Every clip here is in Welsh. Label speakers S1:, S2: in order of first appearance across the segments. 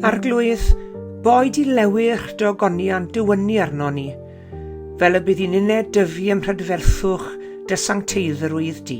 S1: Arglwydd, boed i lewy'ch dogoniant dywynu arno ni, fel y bydd i'n uned dyfu ym mhrydferthwch dy sancteiddrwydd di.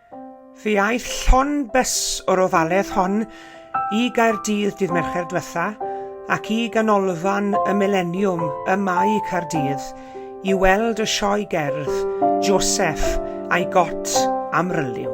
S1: Fe aeth llond bys o'r ofaledd hon i Gaerdydd dydd Mercher dwetha ac i Ganolfan y Mileniwm ym Mae Caerdydd i weld y sioe gerdd Joseff a'i Got Amryliw.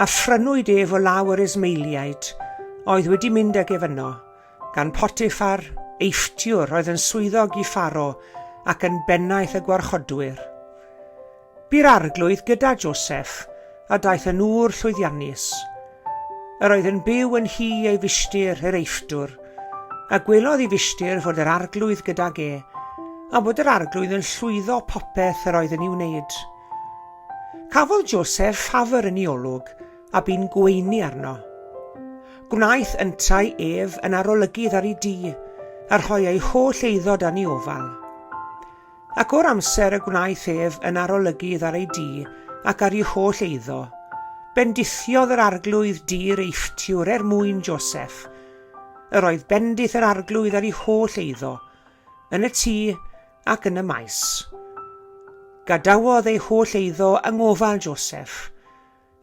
S1: a phrynwyd ef o law yr Ismaeliaid oedd wedi mynd ag ef yno, gan Potiffar, eifftiwr oedd yn swyddog i Pharo ac yn bennaeth y gwarchodwyr. Bu'r arglwydd gyda Joseph, a daeth yn ŵr llwyddiannus. Yr oedd yn byw yn hi ei fishtir, yr eiffdwr, a gwelodd i fishtir fod yr arglwydd gydag e, a bod yr arglwydd yn llwyddo popeth yr oedd yn ei wneud. Cafodd José llafr yn ei olwg a bu'n gweini arno. Gwnaeth yntau ef yn arolygydd ar ei dŷ, a rhoi ei holl eiddo dan ei ofal. Ac o'r amser y gwnaeth ef yn arolygydd ar ei dŷ ac ar ei holl eiddo, bendithiodd yr arglwydd dŷ'r Eifftiwr er mwyn Joseph. Yr oedd bendith yr arglwydd ar ei holl eiddo, yn y tŷ ac yn y maes. Gadawodd ei holl eiddo yng ngofal Joseph,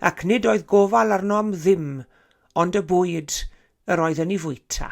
S1: ac nid oedd gofal arno am ddim ond y bwyd yr oedd yn ei fwyta.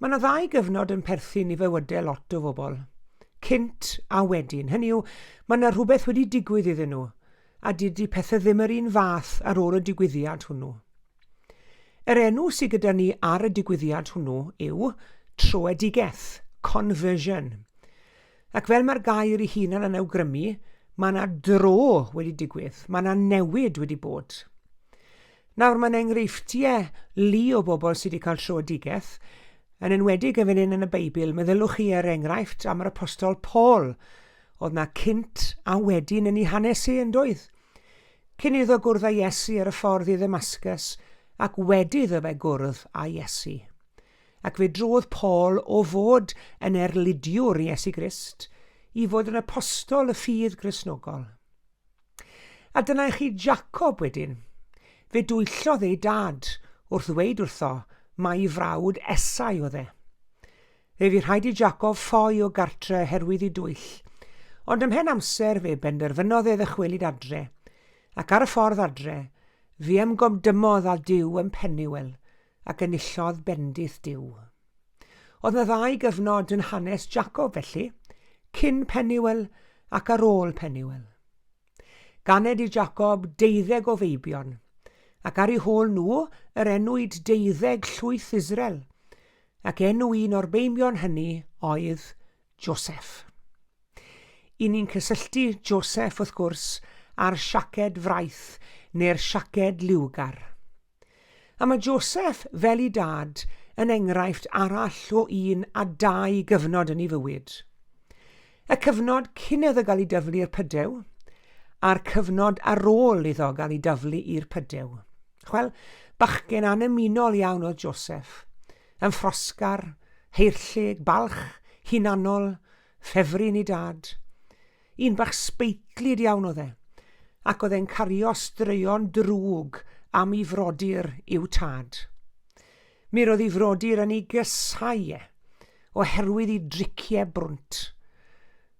S1: Mae yna ddau gyfnod yn perthyn i fywydau lot o bobl. Cynt a wedyn. Hynny yw, mae yna rhywbeth wedi digwydd iddyn nhw, a dydy pethau ddim yr un fath ar ôl y digwyddiad hwnnw. Yr enw sydd gyda ni ar y digwyddiad hwnnw yw troedigeth, conversion. Ac fel mae'r gair ei hunan yn awgrymu, mae yna dro wedi digwydd, mae yna newid wedi bod. Nawr, mae'n enghreifftiau lu o bobl sydd wedi cael troedigaeth, yn enwedig yn fan hyn yn y Beibl. Meddyliwch chi ar er enghraifft am yr apostol Paul. Oedd na cynt a wedyn yn ei hanes i, yn doedd? Cyn iddo gwrdd â Iesu ar y ffordd i ddymasgus, ac wedi iddo fe gwrdd â Iesu. Ac fe drodd Paul o fod yn erlidiwr Iesu Grist i fod yn apostol y ffydd grisnogol. A dyna i chi Jacob wedyn. Fe dwyllodd ei dad wrth ddweud wrtho mai frawd Esau oedd e. Fe fu rhaid i Jacob ffoi o gartre oherwydd ei dwyll, ond ymhen amser fe benderfynodd e ddychwelyd adre, ac ar y ffordd adre, fe ymgomdymodd â Duw yn Peniwel, Ac enillodd bendith Duw. Oedd 'na ddau gyfnod yn hanes Jacob felly, cyn Peniwel ac ar ôl Peniwel. Ganed i Jacob deuddeg o feibion, ac ar eu hôl nhw yr enwyd deuddeg llwyth Israel, ac enw un o'r beimion hynny oedd Joseph. I ni'n cysylltu Joseph, wrth gwrs, â'r siaced fraith neu'r siaced liwgar. A mae Joseph, fel i dad, yn enghraifft arall o un a dau gyfnod yn ei fywyd. Y cyfnod cyn iddo gael ei dyflu i'r pydew, a'r cyfnod ar ôl iddo gael ei dyflu i'r pydew. Wel, bachgen annymunol iawn oedd Joseph. Yn ffrosgar, heirllug, balch, hunanol, Ffefryn i Dad. Un bach sbeitlyd iawn oedd e, ac oedd e'n cario straeon drwg am i frodyr i'w tad. Mi roedd i frodyr yn ei gysau e, oherwydd i driciau brwnt.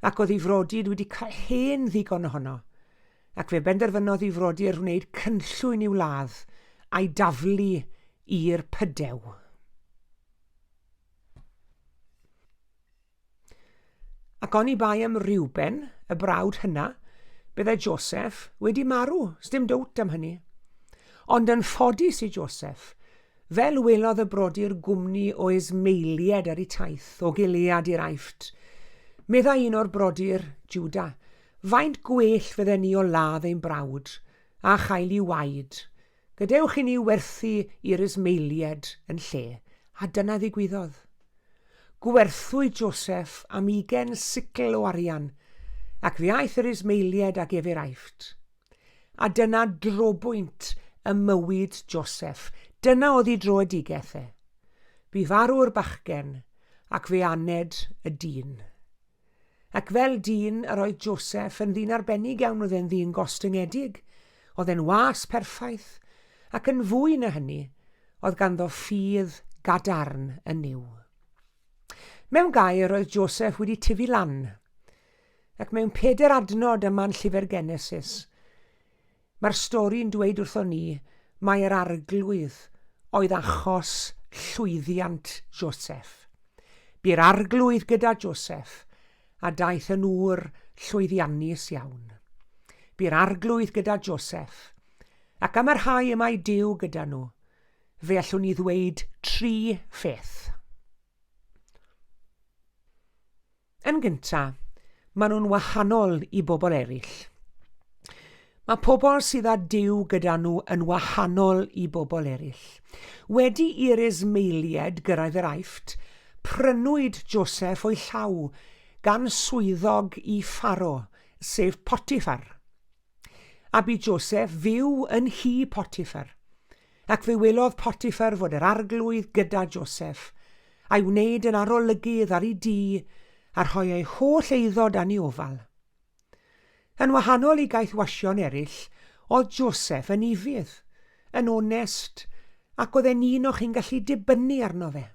S1: Ac oedd i frodyr wedi cael hen ddigon ohono, ac fe benderfynodd i frodyr wneud cynllwyn i'w ladd a'i daflu i'r pydew. Ac oni bai am Reuben, y brawd hynna, byddai Joseph wedi marw, sdim dwt am hynny. Ond yn ffodus i Joseph, fel welodd y brodyr gwmni o Ismaelied ar y taith o Gilead i'r Aifft, meddai un o'r brodyr, Juda, faint gwell fydden ni o ladd ein brawd, a chael i waed, Gadewch i ni werthu i'r Ismaeliaid yn lle, a dyna ddigwyddodd. Gwerthwyd Joseph am ugain sicl o arian, ac fe aeth yr Ismaeliaid ag ef i'r Aifft. A dyna drobwynt ym mywyd Joseph, dyna oddi droedigeth e. Bu farw'r bachgen, ac fe aned y dyn. Ac fel dyn yr oedd Joseph yn ddyn arbennig iawn oedd e'n ddyn gostyngedig, oedd e'n was perffaith, ac yn fwy na hynny, oedd ganddo ffydd gadarn yn Nuw. Mewn gair, roedd Joseph wedi tyfu lan, ac mewn peder adnod ym man llyfr Genesis, Mae'r stori'n dweud wrthon ni mai yr Arglwydd oedd achos llwyddiant Joseph. Bu'r Arglwydd gyda Joseph, a daeth yn ŵr llwyddiannus iawn. Bu'r Arglwydd gyda Joseph, ac am y rhai y mae Duw gyda nhw, fe allwn ni ddweud tri pheth. Yn gynta, maen nhw'n wahanol i bobl eraill. Mae pobl sydd â Duw gyda nhw yn wahanol i bobl eraill. Wedi i'r Ismaeliaid gyrraedd yr Aifft, prynwyd Joseph o'i llaw gan swyddog i Pharo, sef Potiffar. A bu Joseph fyw yn nhŷ Potiffar. Ac fe welodd Potiffar fod yr arglwydd gyda Joseph, a'i wneud yn arolygydd ar ei dŷ, a rhoi ei holl eiddo dan ei ofal. Yn wahanol i gaethwasion eraill, oedd Joseph yn ifydd, yn onest, ac oedd e'n un o chi'n gallu dibynnu arno fe.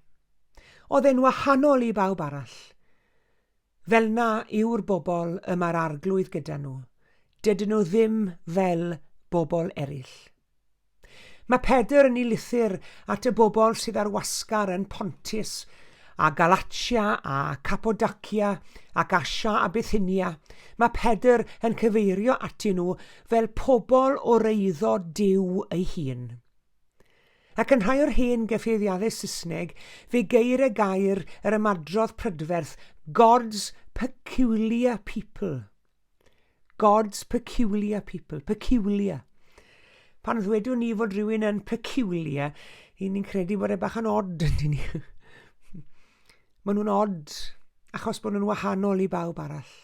S1: Oedd e'n wahanol i bawb arall. Fel 'na yw'r bobl y mae'r Arglwydd gyda nhw, dydyn nhw ddim fel bobl eraill. Mae Pedr yn ei lythyr at y bobl sydd ar wasgar yn Pontus, a Galatia, a Capodacia, ac Asia a Bithynia, mae Pedr yn cyfeirio atyn nhw fel pobl o'r eiddo Duw ei hun. Ac yn rhai o'r hen gefeiriadau Saesneg, fe geir y gair yr ymadrodd prydferth God's peculiar people. God's peculiar people. Peculiar. Pan ddwedwn ni fod rhywun yn peculiar, i ni'n credu bod e bach yn odd, yndyn ni. Maen nhw'n odd, achos bod nhw'n wahanol i bawb arall.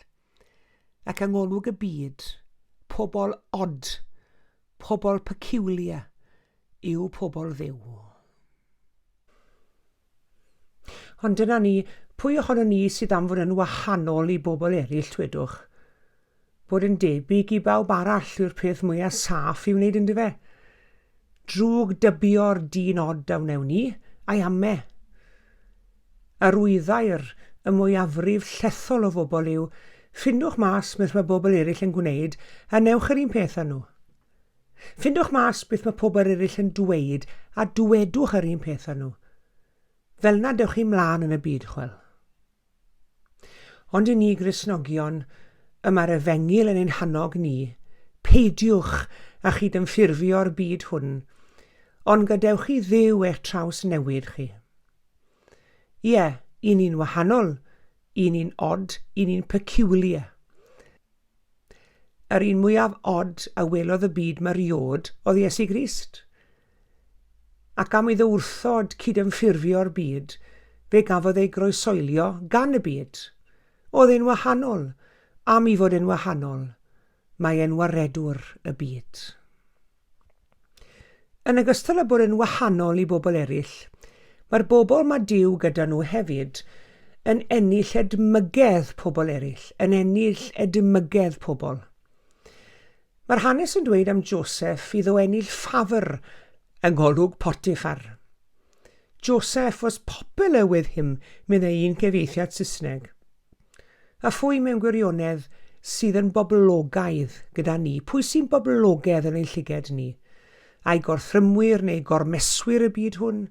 S1: ac yng ngolwg y byd, pobl odd, pobl peculiar yw pobl Dduw. Ond dyna ni, pwy ohono ni sydd am fod yn wahanol i bobl eraill, twedwch? Bod yn debyg i bawb arall yw'r peth mwyaf saff i wneud, ynddo fe? Drwg dybio'r dyn od a wnewn ni, ai ame? Yr wyddai'r y mwyafrif llethol o fobl yw, ffindwch mas beth mae bobl eraill yn gwneud a newch yr un peth â nhw. Ffindwch mas beth mae pobl eraill yn dweud a dwedwch yr un peth â nhw. Fel na dewch chi mlaen yn y byd, chwel. Ond i ni Gristnogion, y mae'r efengyl yn ein hannog ni, peidiwch â chydymffurfio'r byd hwn, ond gadewch i Dduw eich traws newid chi. Ie, i ni'n wahanol, i ni'n odd, i ni'n peculiar. Yr un mwyaf od a welodd y byd mariod oedd Iesu Grist. Ac am iddo wrthod cydymffurfio'r byd, fe gafodd ei groesoelio gan y byd. Oedd e'n wahanol, am i fod e'n wahanol, mae e'n waredwr y byd. Yn ogystal â bod yn wahanol i bobl eraill, mae'r bobl mae Duw gyda nhw hefyd yn ennill edmygedd pobl eraill, yn ennill edmygedd pobl. Mae'r hanes yn dweud am Joseph iddo ennill ffafr yng ngolwg Potiffar. Joseph was popular with him, meddai un cyfeithiad Saesneg. A phwy mewn gwirionedd sydd yn boblogaidd gyda ni? Pwy sy'n boblogedd yn ein llyged ni? Ai gorthrymwyr neu gormeswyr y byd hwn?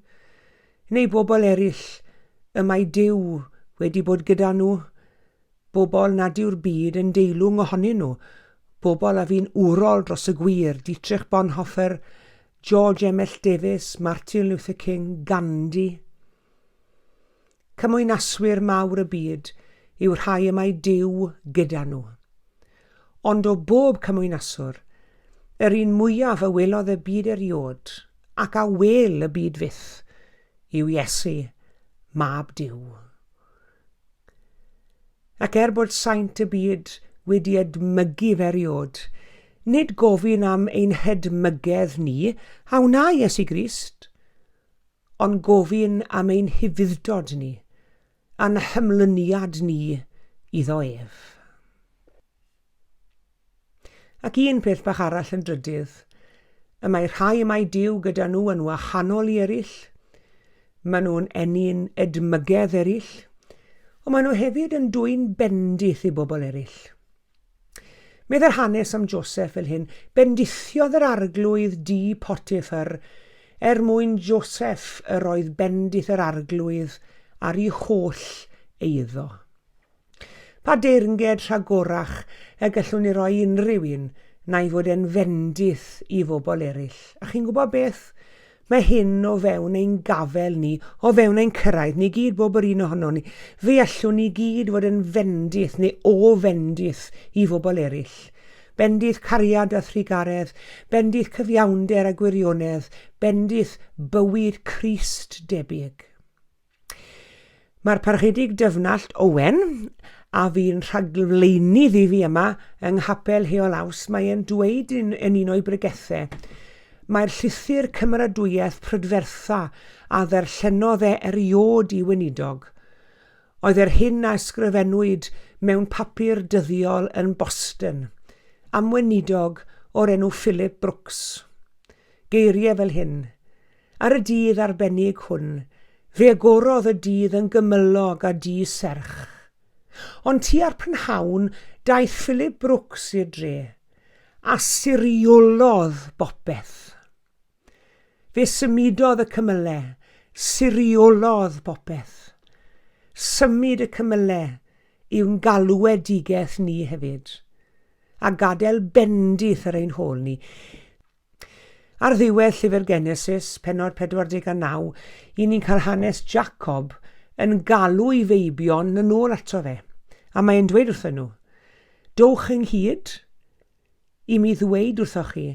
S1: Neu bobl eraill y mae Duw wedi bod gyda nhw? Bobl nad yw'r byd yn deilwng ohonyn nhw? Bobl a fi'n urol dros y gwir, Dietrich Bonhoeffer, George Emmett Davies, Martin Luther King, Gandhi? Cymwynaswyr mawr y byd yw'r rhai y mae Duw gyda nhw. Ond o bob cymwynaswr, yr un mwyaf a welodd y byd eriod, ac a wel y byd fyth, yw Iesu, Mab Duw. Ac er bod saint y byd wedi edmygu feriod, nid gofyn am ein hedmygedd ni a wna Iesu Grist, Ond gofyn am ein hufudd-dod ni, a'n hymlyniad ni iddo ef. Ac un peth bach arall yn drydydd, y mae rhai mae Dyw gyda nhw yn wahanol i eraill, maen nhw'n ennyn edmygedd eraill, ond maen nhw hefyd yn dwyn bendith i bobl eraill. Meddai'r hanes am Joseph fel hyn, Bendithiodd yr arglwydd di Potiffar er mwyn Joseph yr oedd bendith yr arglwydd ar ei holl eiddo. Pa deyrnged rhagorach y gallwn ni roi unrhyw un na'i fod e'n fendith i fobl eraill. A chi'n gwybod beth? Mae hyn o fewn ein gafel ni, o fewn ein cyrraedd ni gyd, bob yr un ohonon ni. Fe allwn ni gyd fod yn fendith neu o fendith i fobl eraill. Bendith cariad a thrugaredd, bendith cyfiawnder a gwirionedd, bendith bywyd Crist debyg. Mae'r Parchedig Dyfnallt Owen, a fi'n rhagflaenu ddi fi yma yng Nghapel Heol Aws, mae e'n dweud yn, yn un o'i bregethau, Mae'r llythyr cymeradwyaeth prydfertha a ddarllenodd e eriod i weinidog, oedd yr hyn a ysgrifennwyd mewn papur dyddiol yn Boston, am weinidog o'r enw Philip Brooks. Geiriau fel hyn, Ar y dydd arbennig hwn, fe agorodd y dydd yn gymylog a du serch. Ond tua'r prynhawn, daeth Philip Brooks i'r dre, a siriolodd bopeth. Fe symudodd y cymyle, siriolodd popeth. Symud y cymyle yw'n galwedigaeth ni hefyd, a gadael bendith ar ein hôl ni. Ar ddiwedd llyfr Genesis, penod 49, i ni'n cael hanes Jacob yn galw i feibion yn ôl ato fe. A mae'n dweud wrthyn nhw, Dowch ynghyd i mi ddweud wrthoch chi,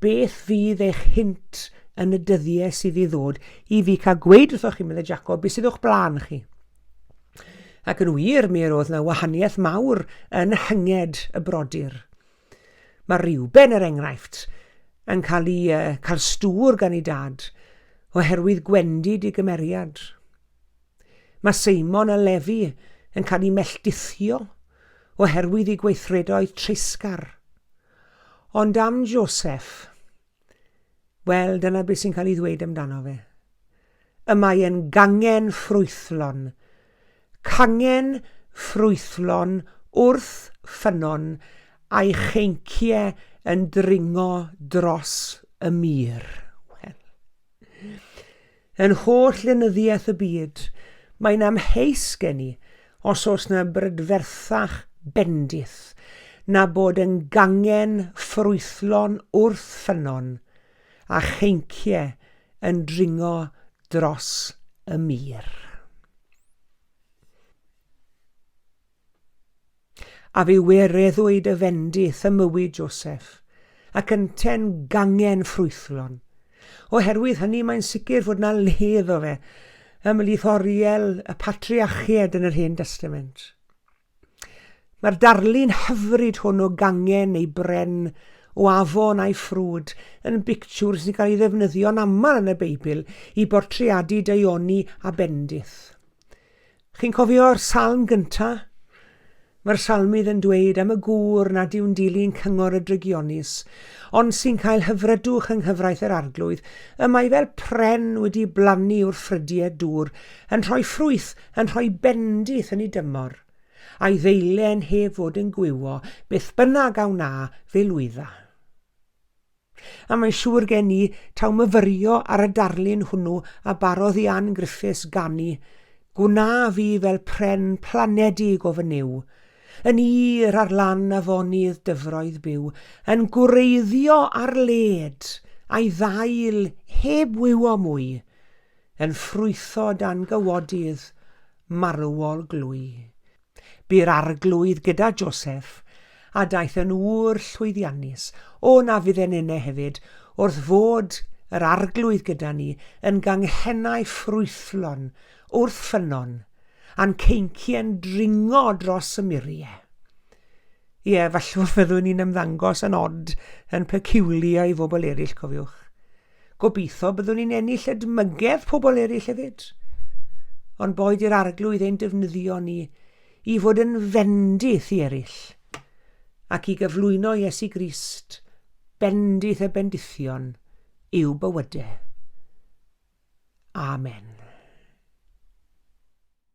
S1: beth fydd eich hint yn y dyddiau sydd i ddod, i fi cael gweud wrthoch chi, meddai Jacob, beth sydd o'ch blaen chi. Ac yn wir, mi yr oedd na wahaniaeth mawr yn hynged y brodyr. Mae Reuben, er enghraifft, yn cael ei uh, cael stŵr gan ei dad, oherwydd gwendid i gymeriad. Mae Seimon a Lefi yn cael ei melltithio, oherwydd ei gweithredoedd treisgar. Ond am Joseph, Wel, dyna beth sy'n cael ei ddweud amdano fe. Y mae e'n gangen ffrwythlon. Cangen ffrwythlon wrth ffynnon a'i cheincie yn dringo dros y mur. Wel. Yn holl lenyddiaeth y byd, mae'n amheus gen i os oes na brydferthach bendith na bod yn gangen ffrwythlon wrth ffynnon, a cheincie yn dringo dros y mur. A fi wereddwyd y fendith ym mywyd Joseph, ac ynte'n gangen ffrwythlon. Oherwydd hynny mae'n sicr fod na le iddo fe ymhlith oriel y patriachied yn yr Hen Destament. Mae'r darlun hyfryd hwn o gangen ei bren o afon a'i ffrwd yn bictiwr sy'n cael ei ddefnyddio'n aml yn y Beibl i bortreadu daioni a bendith. Chi'n cofio'r salm gynta? Mae'r salmydd yn dweud am y gŵr nad yw'n dilyn cyngor y drygionus, ond sy'n cael hyfrydwch yng nghyfraith yr Arglwydd. Y mae fel pren wedi blannu wrth ffrydiau dŵr, yn rhoi ffrwyth, yn rhoi bendith yn ei dymor. A'i ddeile yn heb fod yn gwywo, beth bynnag a wna, fe lwydda. A mae'n siŵr gen i taw myfyrio ar y darlun hwnnw a barodd i Ann Griffiths ganu, Gwna fi fel pren planedig o fy niw, yn ir ar lan afonydd dyfroedd byw, yn gwreiddio ar led a'i ddail heb wywo mwy, yn ffrwytho dan gywodydd marwol glwy. Bu'r Arglwydd gyda Joseph, a daeth yn ŵr llwyddiannus, o na fydd e'n ene hefyd, wrth fod yr Arglwydd gyda ni, yn ganghennau ffrwythlon, wrth ffynnon, a'n ceincie'n dringo dros y murie. Ie, fallwch fyddwn ni'n ymddangos yn odd, yn peculiar i fobl eraill, cofiwch. Gobeithio byddwn ni'n ennill edmygedd pobl eraill hefyd. Ond boed i'r arglwydd ein defnyddio ni i fod yn fendith i eraill ac i gyflwyno Iesu Grist, bendith y bendithion, i'w bywydau. Amen.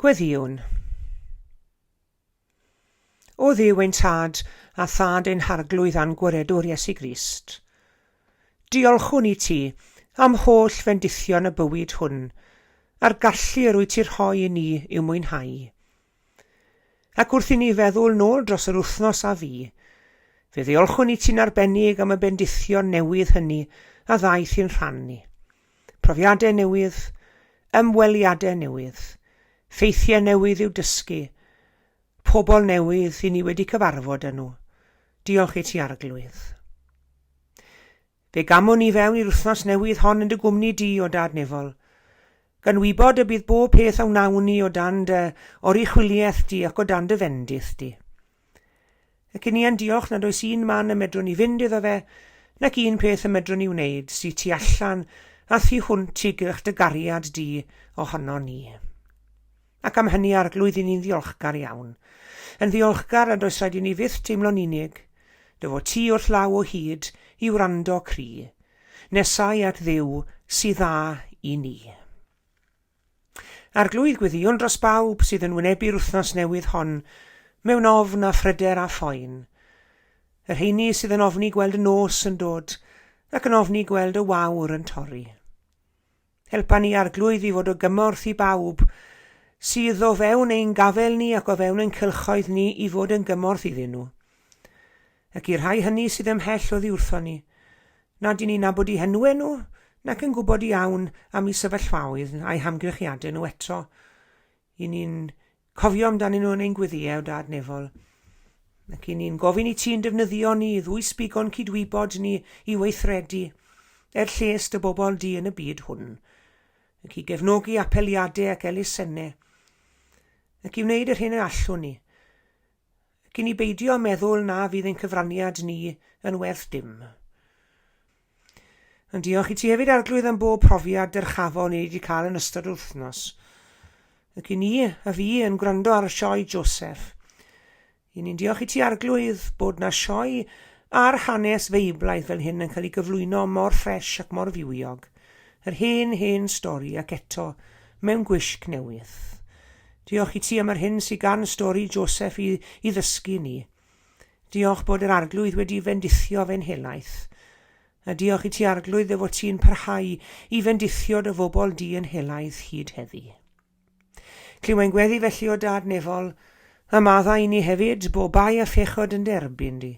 S1: Gweddïwn. O Dduw ein Tad, a Thad ein Harglwydd a'n Gwiredwr Iesu Grist, diolchwn i Ti am holl fendithion y bywyd hwn, a'r gallu yr wyt Ti rhoi i ni i'w mwynhau. Ac wrth i ni feddwl nôl dros yr wythnos a fu, fe ddiolchwn i ti'n arbennig am y bendithion newydd hynny a ddaeth i'n rhan ni. Profiadau newydd, ymweliadau newydd, ffeithiau newydd i'w dysgu, pobl newydd i ni wedi cyfarfod â nhw. Diolch i ti, Arglwydd. Fe gamwn i fewn i'r wythnos newydd hon yn dy gwmni di, o Dad Nefol, gan wybod y bydd bob peth a wnawn ni o dan dy oruchwyliaeth di ac o dan dy fendith di. Ac i ni yn diolch nad oes un man y medrwn ni fynd iddo fe, nac un peth y medrwn ni wneud sy tu allan a thu hwnt i gylch dy gariad di ohono ni. Ac am hynny, Arglwydd, i ni'n ddiolchgar iawn. Yn ddiolchgar nad oes rhaid i ni fyth teimlo'n unig. Dy fod ti wrth law o hyd i wrando cri. Nesau at Dduw sydd dda i ni. Arglwydd, gweddïwn dros bawb sydd yn wynebu'r wythnos newydd hon mewn ofn a phryder a phoen. Yr heini sydd yn ofni gweld y nos yn dod ac yn ofni gweld y wawr yn torri. Helpa ni, Arglwydd, i fod o gymorth i bawb sydd o fewn ein gafel ni ac o fewn ein cylchoedd ni i fod yn gymorth iddyn nhw. Ac i'r rhai hynny sydd ymhell oddi wrthon ni, nad i ni nabod i henwe nhw, nac yn gwybod iawn am i sefyllfaoedd a'i hamgrychiadau nhw eto, i ni'n Cofio amdanyn nhw yn ein gweddïau o dad nefol, ac i ni'n gofyn i ti'n defnyddio ni i ddwysbigo'n cydwybod ni i weithredu er lles dy bobl di yn y byd hwn, ac i gefnogi apeliadau ac elusennau, ac i wneud yr hyn y allwn ni, ac i ni beidio â meddwl na fydd ein cyfraniad ni yn werth dim. Yn diolch i ti hefyd Arglwydd am bob profiad dyrchafol ni wedi cael yn ystod yr wythnos. Ac i ni, a fi, yn gwrando ar y sioe Joseph. I ni'n diolch i ti Arglwydd bod na sioe ar hanes feiblaidd fel hyn yn cael ei gyflwyno mor ffres ac mor fywiog. Yr hen, hen stori ac eto mewn gwisg newydd. Diolch i ti am yr hyn sydd gan stori Joseph i, i ddysgu ni. Diolch bod yr Arglwydd wedi fendithio fe'n helaeth. A diolch i ti, Arglwydd, dy fod ti'n parhau i fendithio dy fobl di yn helaeth hyd heddi. Clywai'n gweddi felly o dad nefol, a madda i ni hefyd, bo bai a phechod yn derbyn di.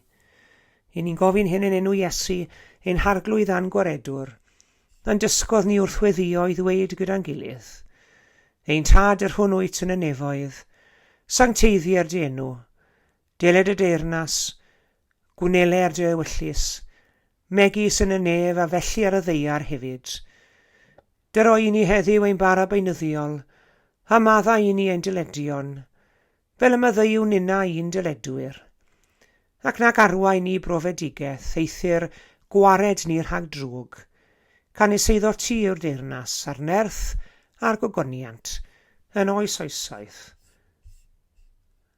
S1: I ni'n gofyn hyn yn enw Iesu, ein harglwydd a'n gwaredwr, yn dysgodd ni wrth weddio i ddweud gyda'n gilydd. Ein tad yr hwn wyt yn y nefoedd, sancteiddier dy enw, Deled y deyrnas, Gwnele ar dre ewyllys, megis yn y nef a felly ar y ddeiar hefyd. Dy roi i ni heddiw ein bara beunyddiol, a madda i ni ein dyledion, fel y maddeuwn inna i'n dyledwyr. Ac nag arwai ni brofedigeth, eithr gwared ni rhag drwg. Canys eiddo ti yw'r deyrnas, a'r nerth, a'r gogoniant, yn oes oesoedd.